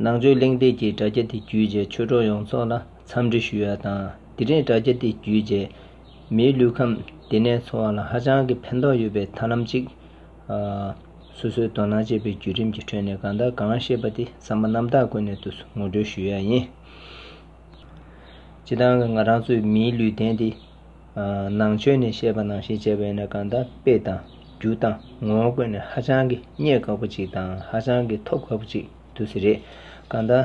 ནང་ཆོས་གླེང་སྟེགས་ཀྱི་དྲ་རྒྱ་དེ་བརྒྱུད་རྗེས་ཆོས་གྲོགས་ཡོངས་རྫོགས་ལ་འཚམས་འདྲི་ཞུ་ཡ་དང་དེ་རིང་དྲ་རྒྱ་དེ་བརྒྱུད་རྗེས་མིའི་ལུས་ཁམས་དེ་ནས་འཚོ་བ་ལ་ཧ་ཅང་གི་ཕན་ཐོགས་ཡོད་པའི་ཐར་ལམ་ཅིག། སོ་སོའི་དོ་སྣང་བྱེད་པའི་བརྒྱུད་རིམ་གྱི་ཁྲོད་ནས་གང་དག་གང་བཤད་པ་དེ་ཚང་མ་རྣམ་དག་ཀུན་ནས་དུ་ངོ་སྤྲོད་ཞུ་ཡ་ཡིན། སྤྱི་བཏང་གི་ང་རང་ཚོའི་མིའི་ལུས་རྟེན་དེ་ནང་ཆོས་ནས་བཤད་པ་ནང་བཞིན་བྱས་པས་ན་གང་དག་དཔེ་དང་རྒྱུ་དང་ངོ་བོ་བཀོད་ནས་ཧ་ཅང་གི་རྙེད་དཀའ་བོ་ཅིག་དང་ཧ་ཅང་གི་ཐོབ་དཀའ་བོ་ཅིག་ཏུ་ཟེར། རེད་གང་དག་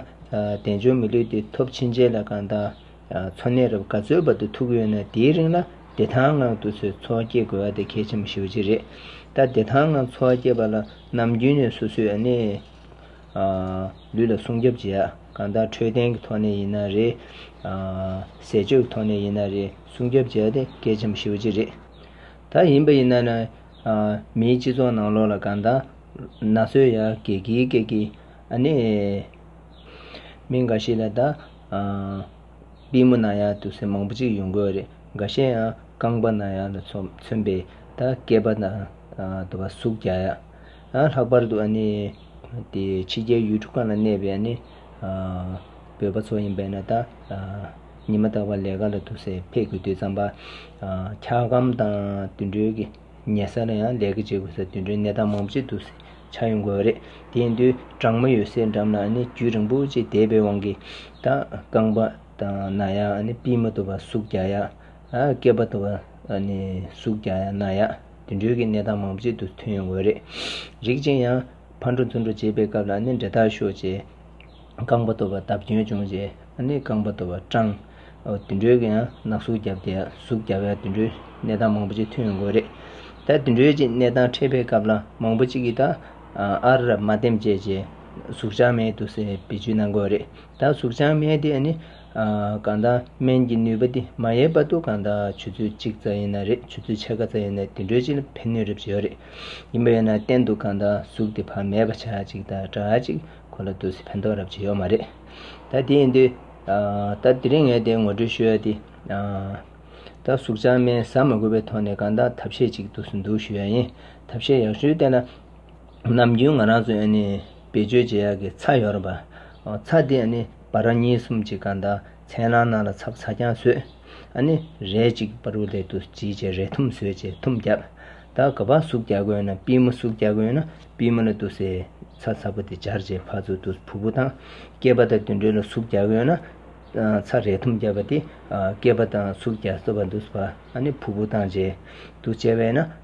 དལ་འབྱོར་མི་ལུས་འདི་ཐོབ་ཕྱིན་ཆད་ལ་གང་དག་འཚོ་གནས་རབ་དགའ་ཚོའི་བར་དུ་ཐུག་ཡོད་ན་དེའི་རིང་ལ་བདེ་ཐང་ངང་དུ་ཚོའི་འཚོ་བ་སྐྱེལ་དགོས་བ་དེ་གལ་ཆེན་པོ་ཞིག་ཡོད་ཅིག་རེད། ད་བདེ་ཐང་ངང་འཚོ་བ་སྐྱེལ་བ་ལ་ནམ་རྒྱུན་ནས་སོ་སོའི་ཨ་ནེ། ལུས་ལ་སྲུང་སྐྱོབ་བྱེད། གང་ལྟར་འཕྲོད་བསྟེན་གྱི་ཐོག་ནས་ཡིན་ན་རེད། ཟས་སྤྱོད་ཀྱི་ཐོག་ནས་ཡིན་ན་རེད་སྲུང་སྐྱོབ་བྱས་ཏེ་སྐད་ཆའམ་ཤི་བོ་ཅི་རེད། ད་ཡིན་པ་ཡིན་ན། མིའི་སྤྱི་ཚོགས་ནང་ལོགས་ལ་གང་ལྟར། ན་སོས་ཡ་གེ་གིའི་སྐད་ཀྱིས་ཨ་ནེ། མི་འགའ་ཞིག་ལ་ད། པི་མོ་ན་ཡ་དུ་སེ་མང་པོ་ཅིག་ཡོང་གི་རེད། འགའ་ཤས་ཡང་རྐང་པ་ན་ཡ་ལ་མཚོན་པའི་ད་སྐད་པ་ན་དུ་བ་ཟུག་རྒྱག་ཡ། ལྷག་པར་དུ་ཕྱི་རྒྱལ་ཡུལ་གྲུ་ཁག་ན་གནས་པའི་བོད་པ་ཚོ་ཡིན་པས་ན་ད་ཉི་མ་རྟག་པར་ལས་ཀ་ལ་ཐུག་སའི་ཕེབས་དགོས་དུས་རྩམ་པ་འཁྱག་སྒམ་དང་དུད་འགྲོའི་གི་ཉལ་ས་ལ་ཡང་ལས་ཀ་བྱེད་དགོས་སའི་དུད་འགྲོའི་གནས་སྟངས་མང་པོ་ཅིག་འདུག་སའི་ཆ་ཡོང་དགོས་པ་རེད་དེ་ཡིན་དུས་གྲང་མོ་ཡོད་སའི་འགྲམ་ན་རྒྱུད་རིང་པོ་ཅིག་བསྡད་པའི་དབང་གིས་ད་རྐང་པ་དང་ན་ཡག་སྤིན་མ་དོ་བ་ཟུག་རྒྱག་ཡག་སྐེད་པ་དོ་བ་ཟུག་རྒྱག་ན་ཡག། དུད་འགྲོའི་གནས་སྟངས་མང་པོ་གཅིག་ཏུ་མཐུན་ཡོང་གི་རེད། རིགས་ཅན་ཡང་ཕར་འགྲོ་ཚུར་འགྲོ་བྱེད་པའི་སྐབས་ལ་ནི་འདྲེ་དག་ཤོ་བྱས། རྐང་པ་གཏོར་བ་བརྡབ་སྐྱོན་བྱུང་བྱས་ནི་རྐང་པ་གཏོར་བ་སྐྲངས། དུད་འགྲོའི་ཡང་ནག་ཟུག་བརྒྱབ་སྟེ་ཟུག་བརྒྱབ་ཡང་དུད་འགྲོའི་གནས་སྟངས་མང་པོ་གཅིག་མཐུན་ཡོང་གི་རེད། ད་དུད་འགྲོའི་གཅིག་གནས་སྟངས་འཕྲད་པའི་སྐབས་ལ་མང་པོ་གཅིག་གིས་ད་ཨ་རབ་མ་འདེམས་བྱས་རྗེས་ཟུག་ཆག་མེད་དུ་སེ་བེད་སྤྱོད་གནང་དགོས་རེད། ད་ཟུག་ཆག་མེད་དེ་ནི་གང་དང་སྨན་གྱི་ནུས་པ་འདི་མ་ཡལ་བར་དུ་གང་དང་ཆུ་ཚོད་གཅིག་ཙམ་ཡིན་ན་རེད་ཆུ་ཚོད་ཕྱེད་ཀ་ཙམ་ཡིན་ན་དེ་འདྲོད་ཅིག་ལ་ཕན་ནུས་རེ་བྱོས་རེད། ཡིན་པ་ཡིན་ན་གཏན་དུ་གང་དང་གཟུགས་དེ་བག་མེད་པ་བྱ་ཅིག་དང་འདྲ་ཅིག་ཁོ་ལ་དུས་སུ་ཕན་ཐོག་རབ་བྱེད་ཡོད་མ་རེད། ད་དེ་ཡིན་དུས། ད་དེ་རིང་ངས་དེ་ངོ་སྤྲོད་ཞུ་ཡ་དེ། ད་གཟུགས་ཅག་སྨན་ཟ་མ་དགོས་པའི་ཐོག་ནས་གང་དང་ཐབས་ཤེས་ཅིག་དུས་སུ་འདུག་ཞུ་ཡ་ཡིན་ཐབས་ཤེས་ཡག་ཞུ་བསྟན་ན། ནམ་རྒྱུན་ང་རང་ཚོས་ནི་བེད་སྤྱོད་བྱེད་ཡག་གི་ཚྭ་ཡོད་རེད་པ། ཚྭ་དེ་ནི་འབའ་ར་གཉིས་གསུམ་གྱི་སྒང་དང་ཚན་རང་ནང་ལ་ཚབ་ཚྭ་རྐྱང་བཟོས། ནི་རས་གཅིག་པར་རུ་ལེ་དུ་བྱིས་བྱས་རས་ཐུམ་བཟོས་བྱས་ཐུམ་བརྒྱབ། ད་ག་པ་ཟུག་རྒྱག་དགོས་ན་པི་མོ་ཟུག་རྒྱག་དགོས་ན་པི་མོ་ལ་དུ་སའི་ཚྭ་ཚ་པོ་དེ་སྦྱར་བྱས་ཕར་ཚུར་དུ་བུ་བུ་དང་སྐྱེས་པ་དང་དུད་འགྲོ་ལ་ཟུག་རྒྱག་དགོས་ན། ཚྭ་རས་ཐུམ་བརྒྱབ་པ་དེ་སྐྱེས་པ་དང་ཟུག་རྒྱག་སྲོལ་བ་འདུག་བ། ནི་བུ་བུ་དང་བྱས་དུ་བྱས་བས་ན།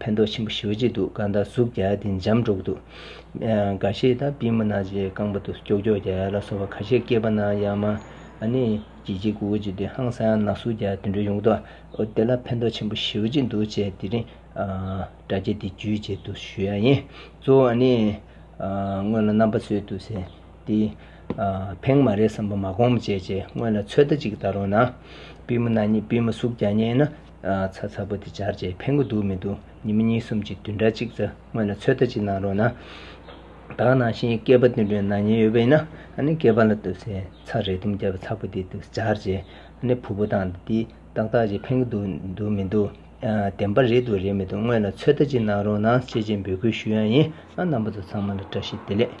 ཕན་ཐོགས་ཆེན་པོ་ཞུ་བྱེད་འདུག་གང་ལྟར་ཟུག་བརྒྱ་དེ་འཇམ་འགྲོ་གི་འདུག། འགའ་ཤས་དང་པི་མི་ན་ཅའི་རྐང་པ་དུ་སྐྱོག་སྐྱོག་བརྒྱ་ལ་སོགས་པ་ཁ་ཤས་སྐྱེས་པ་ན་ཡང་མ་ནི་གྱི་གྱི་གུ་གུ་གྱི་དུས་ཧང་སང་ན་ཟུག་བརྒྱ་དུད་འགྲོ་ཡོང་གི་འདུག་ཨོ་དེ་ལ་ཕན་ཐོགས་ཆེན་པོ་ཞུ་བྱེད་འདུག་ཅེས་དེ་རིང་སྒྲ་སྐྱེས་དེ་བརྒྱུད་བྱེད་དུ་ཞུ་ཡ་ཡིན། གཙོ་བོ་ཨ་ནི། སྔོན་ལ་རྣམ་པ་ཚོལ་དུ་ཟེར་དེ། ཕེང་མ་རེད་བསམ་པ་མ་གོང་མ་བྱས་བྱས་སྔོན་ལ་ཚོད་ལྟ་ཅིག་བལྟ་རོགས་གནང། པི་མི་ན་གཉིས་པི་མི་ཟུག་བརྒྱ་རྙེད་ན་ཚ་ཚ་པོ་དེ་སྦྱར་རྗེས་ཕན་གོ་འདུག་མི་འདུག་ཉི་མ་གཉིས་གསུམ་གྱི་དུས་འདྲ་གཅིག་ཙམ་སྔོན་ལ་ཚོད་ལྟ་ཅིག་གནང་རོགས་གནང། བདག་ནང་བཞིན་སྐྱེས་པ་དུད་འགྲོའི་ནང་ཉལ་ཡོད་པ་ཡིན་ན་སྐྱེས་པ་ལ་ལྟོས་ཟེར་ཚ་རེ་དུམ་བརྒྱབ་ཚ་པོ་དེ་དུ་སྦྱར་རྗེས་བུ་ཕོ་དང་འདི་ཏག་ཏག་ཅིག་ཕན་གོ་འདུག་མི་འདུག་བདེན་པ་རེད་འདུག་རེད་མི་འདུག་སྔོན་ལ་ཚོད་ལྟ་ཅིག་གནང་རོགས་གནང་བྱས་རྗེས་འབོད་སྐུལ་ཞུ་ཡང་ཡིན་ཨ་རྣམ་པ་ཚོ་ཚང་མ་ལ་བཀྲ་ཤིས་བདེ་ལེགས།